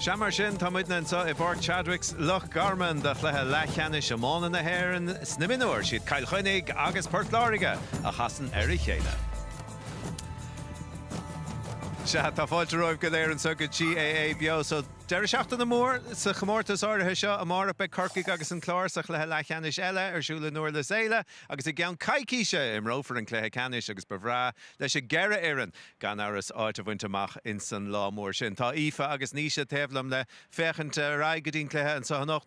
Sea mar sin, tá muidne anseo i bPáirc Chadwicks, Loch Garman do chluiche leathcheannais iomána na hÉireann sna mionúir. Siad Cill Chainnigh agus Port Láirge a chasann ar a chéile. Sea, tá fáilte romhaibh go léir anseo go GAA Beo. So, deireadh seachtaine mór sa chomórtas áirithe seo. Amárach beidh Corcaigh agus an Clár sa chluiche leathcheannais eile ar siúl i nDurlas Éile. Agus i gceann coicíse a imreofar an cluiche ceannais agus ba bhreá leis an gceithre fhoireann, gan amhras, áit a bhaint amach insan lá mór sin. Tá Aoife agus Naoise taobh liom le féachaint ar aghaidh go dtí an cluiche anseo anocht.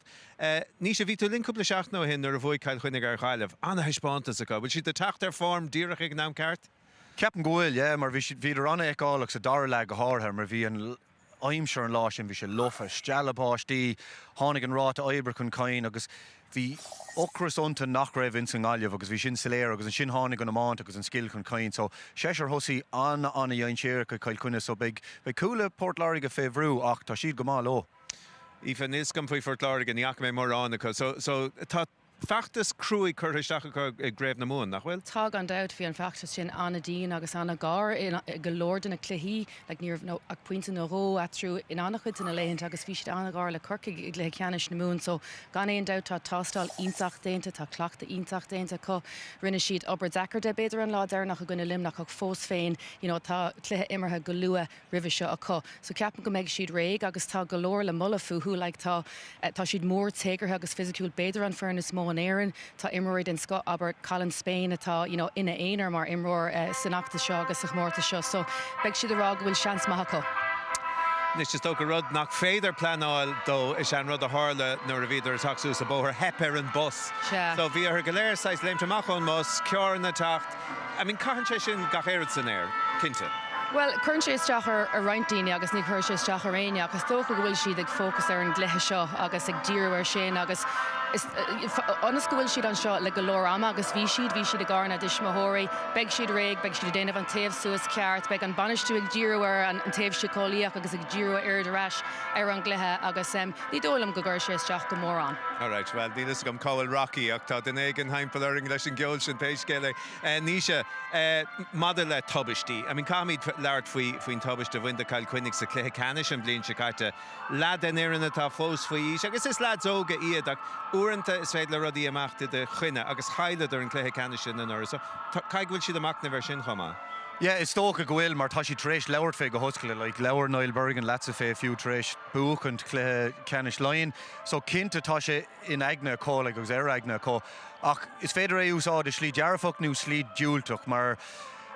Naoise, bhí tú linn cúpla seachtain ó shin nuair a bhuaigh Cill Chainnigh ar Ghaillimh. An-thaispeántas acu. Bhfuil siad ag teacht ar form díreach ag an am ceart? Ceapaim go bhfuil, yeah, mar bhí siad, bhíodar an-fheiceálach sa dara leath go háirithe mar bhí an, aimsir an lá sin bhí sé lofa, stealladh báistí, tháinig an ráta oibre chun cinn agus bhí ocras iontu nach raibh ins an nGaillimh agus bhí sin soiléir agus ansin tháinig an iomáint agus an scil chun cinn so seisear thosaí an-an-dhainséireach ag Cill Chainnigh so beidh cúlaithe Port Láirge fé bhrú ach tá siad go maith leo. Aoife, níl 's agam faoi Phort Láirge, ní fhaca mé mórán acu so tá. feachtas cruaidh curtha isteach acu i gcraobh na Mumhan, nach bhfuil? Tá, gan dabht. Bhí an feachtas sin an-dian agus an-ghar i go leor de na cluichí. Like, ní raibh ach pointe nó dhó eatarthu in an-chuid de na laethanta agus bhí siad an-ghar le Corcaigh i gcluiche ceannais na Mumhan. So, gan aon dabht, tá tástáil iontach déanta, tá cleachtadh iontach déanta acu. Rinne siad obair deacair de, b'fhéidir, an lá deireanach i gcoinne Luimneach ach fós féin, you know, tá cluiche imeartha go luath. roimhe seo acu. So ceapaim go mbeidh siad réidh agus tá go leor le moladh fúthu. Like tá, tá siad mór, téagartha agus fisiciúil, b'fhéidir an foireann is mó in Éirinn. Tá imreoirí den scoth, abair Colin Spain atá, you know, ina aonar mar imreoir san fheachtas seo agus sa chomórtas seo. So beidh siad a' rá go bhfuil seans maith acu. Anois is dócha rud nach féidir pleanáil dó is ea an rud a tharla nuair a bhíodar a' teacht suas an bóthar, theip ar an bus. So bhí orthu go léir saghas léimt amach ón mbus, carranna a' teacht, I mean, caitheann sé sin gach aon rud san aer, cinnte. Bhuel, cuireann sé isteach ar roinnt daoine agus ní chuirfidh sé isteach ar éinne ach is dócha go bhfuil siad ag fócas ar an gcluiche seo agus ag díriú air sin agus ionas go bhfuil siad anseo le go leor ama agus bhí siad, bhí siad i gcarr na dtuismitheoirí, beidh siad réidh, beidh siad ag déanamh an téamh suas ceart, beidh an bainistiú ag díriú ar an taobh síceolaíoch agus ag díriú aird ar ais ar an gcluiche agus. Ní dóigh liom go gcuirfidh sé isteach go mórán. Alright, bhuel, níl fhios agam cá bhfuil Rocky ach tá duine éigin thimpeall orainn leis an gceol sin pé scéal é. Naoise, maidir le tubaistí, I mean, caithfimid labhairt faoi, faoin tubaist a bhain do Chill Chainnigh sa chluiche ceannais an bhliain seo caite. Leath den fhoireann atá fós faoi aois agus is leaids óga iad ach uaireanta is féidir le rudaí imeacht i do choinne agus chailleadar an cluiche ceannais sin anuraidh so caithfidh go bhfuil siad ag machnamh ar sin chomh maith. Yeah, is dócha go bhfuil mar tá siad tar éis labhairt fé go hoscailte, like, labhair Niall Bergin leatsa fé fiú tar éis, buachaint cluiche ceannais Laighean. So cinnte tá sé in aigne acu like agus ar aigne acu. Ach is féidir é úsáid i slí dearfach nó slí diúltach mar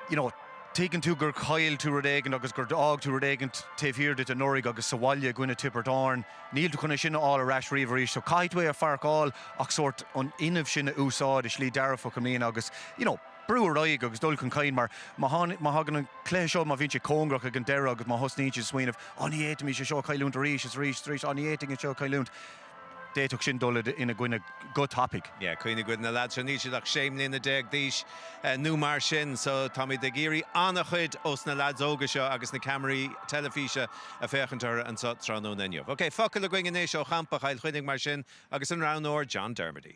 you know tuigeann tú gur chaill tú rud éigin agus gur d'fhág tú rud éigin taobh thiar duit anuraidh agus sa bhaile i gcoinne Tiobraid Árann níl tú chun é sin a fháil ar ais riamh arís so caithfidh tú é a pharcáil ach sórt an fhuinneamh sin a úsáid i slí dearfach i mbliana agus you know. brú ar aghaidh agus dul chun cinn mar má thagann an cluiche seo, má bhíonn sé cóngarach ag an deireadh agus má thosnaíonn siad ag smaoineamh á ní fhéadfaimís é seo a chailliúint arís is arís is arís, á ní fhéadfainn é seo a chailliúint, d'fhéadfadh sin dul ina gcoinne go tapaidh. Yeah, cuimhnigh cuid de na lads seo, níl siad ach sé mbliana déag d'aois nó mar sin so táimíd ag iarraidh an-chuid ós na lads óga seo agus na ceamaraí teilifíse a' féachaint orthu anseo tráthnóna inniu. Ok, focal againn anois ó champa Chill Chainnigh mar sin agus an roghnóir John Dermody.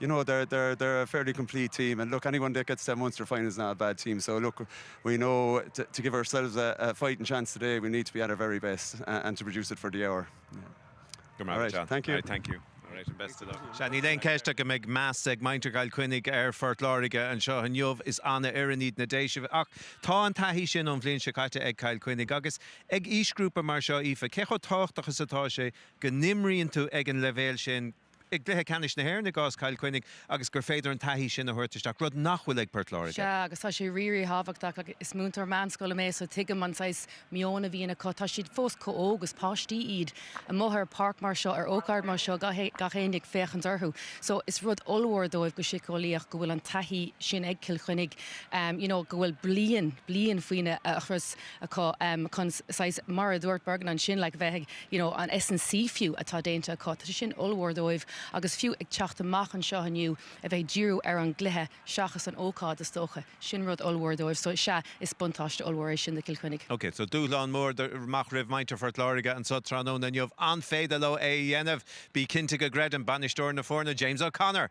You know, they're, they're, they're a fairly complete team and look, anyone that gets to the Munster final is not a bad team, so look, we know to, to give ourselves a, a fighting chance today we need to be at our very best a, and to produce it for the hour. Go raibh maith agat, John. Thank you. All right, thank you. All right, and best of luck. Sea, níl aon cheist ach go mbeidh meas ag muintir Chill Chainnigh ar Phort Láirge anseo inniu, is an-fhoireann iad na Déisigh, ach tá an taithí sin ón bhliain seo caite ag Cill Chainnigh agus ag aoisghrúpa mar seo, Aoife, cé chomh tábhachtach is atá sé go n-imríonn tú ag an leibhéal sin? i gCluiche Ceannais na hÉireann i gcás Chill Chainnigh agus gur féidir an taithí sin a thabhairt isteach, rud nach bhfuil ag Port Láirge. Sea, agus tá sé rí-rí-thábhachtach agus is múinteoir meánscoile mé so tuigim an saghas meoin a bhíonn acu. Tá siad fós chomh hóg, is páistí iad, amuigh ar pháirc mar seo, ar ócáid mar seo, gach éinne ag féachaint orthu. So is rud ollmhór dóibh go siceolaíoch go bhfuil an taithí sin ag Cill Chainnigh, you know go bhfuil bliain, bliain faoina chrios. acu chun saghas, mar a dúirt Bergin ansin, like, bheith ag, you know, an S&C fiú atá déanta acu, tá sin ollmhór dóibh agus fiú ag teacht amach anseo inniu a bheith ag díriú ar an gcluiche seachas an ócáid, is dócha, sin rud ollmhór dóibh so sea, is buntáiste ollmhór é sin do Chill Chainnigh. Ok, so dúshlán mór do, amach roimh muintir Phort Láirge anseo tráthnóna inniu, an féidir leo é a dhéanamh? Bí cinnte go gcreideann bainisteoir na foirne, James O'Connor!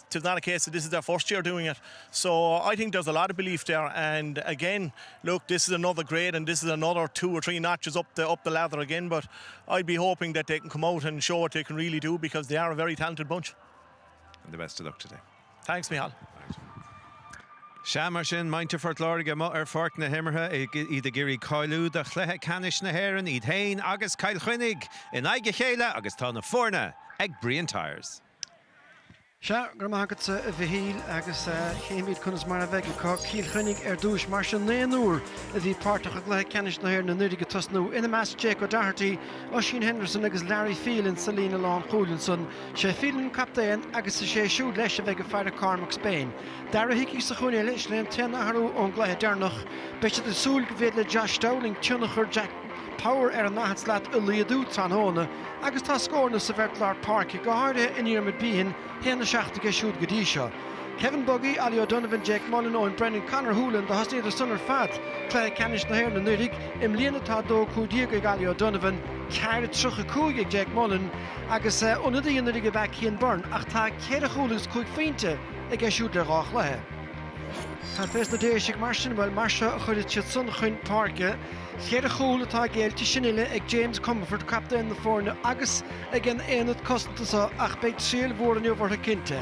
'tis not a case that this is their first year doing it so I think there's a lot of belief there and again look this is another grade and this is another two or three notches up the up the lather again but I'd be hoping that they can come out and show what they can really do because they are a very talented bunch and the best of luck today thanks Mihal Sea mar sin muintir Phort Láirge amuigh ar pháirc na himeartha iad ag iarraidh cáiliú do chluiche ceannais na hÉireann, iad féin agus Cill Chainnigh in aghaidh a chéile agus tá na foirne ag Brian Tyers. Sea, go raibh maith agatsa a Mhichíl, agus chífimíd conas mar a bheidh acu. Cill Chainnigh ar dtúis mar sin, naonúr a bhí páirteach i gCluiche Ceannais na hÉireann anuiridh ag tosnú, ina measc Jake O'Doherty, Oisín Henderson agus Larry Phelan sa líne lánchúil. Ansan, sé Phelan an captaen agus is é siúd leis a bheidh ag faire Cormac Spain. Darragh Hickey sa chúinne eile, is é an t-aon athrú ón gcluiche deireanach. Beidh siad ag súil go bhféidir le Josh Dowling tionchar Jack. Power ar an ndaichead slat a laghdú tráthnóna agus tá scóranna sa bheirt lár páirce, go háirithe i nDiarmuid Behan, 1-7 aige siúd go dtí seo. Kevin Buggy, Ollie O'Donovan, Jake Mullen, Eoin Brennan, Conor Holohan do thosnaíodar san ar fad cluiche ceannais na hÉireann anuiridh. I mbliana tá 2-15 ag Ollie O'Donovan, 4-35 ag Jake Mullen agus ionadaí anuiridh ab ea Cian Byrne ach tá ceithre chúl agus cúig phointe aige siúd le dhá chluiche. Cad fé sna Déisigh mar sin? Bhuel, mar seo a chuirfidh siad san chun páirce. Cheithre chúl atá géillte sin uile ag James Comerford, captaen na foirne, agus ag an aonad cosanta seo ach beidh triail mhór inniu orthu cinnte.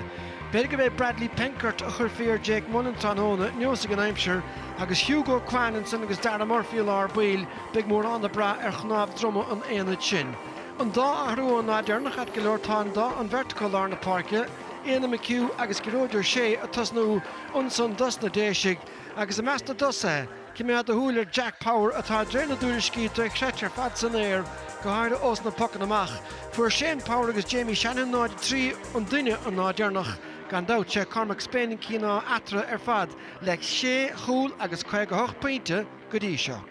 B'fhéidir gurb é Bradley Penkert a chuirfí ar Jake Mullen tráthnóna, neosfaidh an aimsir. Agus Hugo Quann ansan agus Darragh Murphy i lár baill, beidh mórán ag brath ar chnámh droma an aonaid sin. An dá athrú ón lá deireanach ait go leor, tá an dá an bheirt acu i lár na páirce, Éanna McHugh agus Gearóid Ó Sé, ag tosnú ansan dos na Déisigh. Agus i measc na dtosaithe. Coimeád do shúil ar Jack Power atá de réir na dtuairiscí dochreidte ar fad san aer, go háirithe ós na pocanna amach. Fuair Shane Power agus Jamie Shanahan 0, 3, an duine an lá deireanach. Gan dabht, sé Cormac Spain an cíoná eatarthu ar fad le sé chúl agus 58 pointe go dtí seo.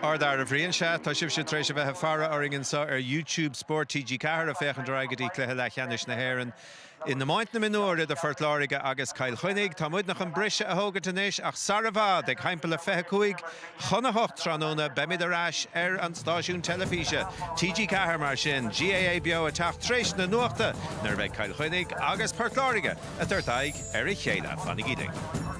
Ardfhear a Bhriain. Sea, tá sibhse tar éis a bheith ag faire orainn anso ar YouTube Spórt TG4 ag féachaint ar aghaidh go dtí cluiche leathcheannais na hÉireann. In iomáint na mionúr idir Phort Láirge agus Cill Chainnigh, tá muidne chun briseadh a thógaint anois ach sara bhfad, ag thimpeall a 25 chun a 8 tráthnóna, beimid ar ais ar an stáisiún teilifíse, TG4 mar sin, GAA Beo ag teacht tar éis na nuachta nuair a bheidh Cill Chainnigh agus Port Láirge ag tabhairt aghaidh ar a chéile. Fanaigí linn.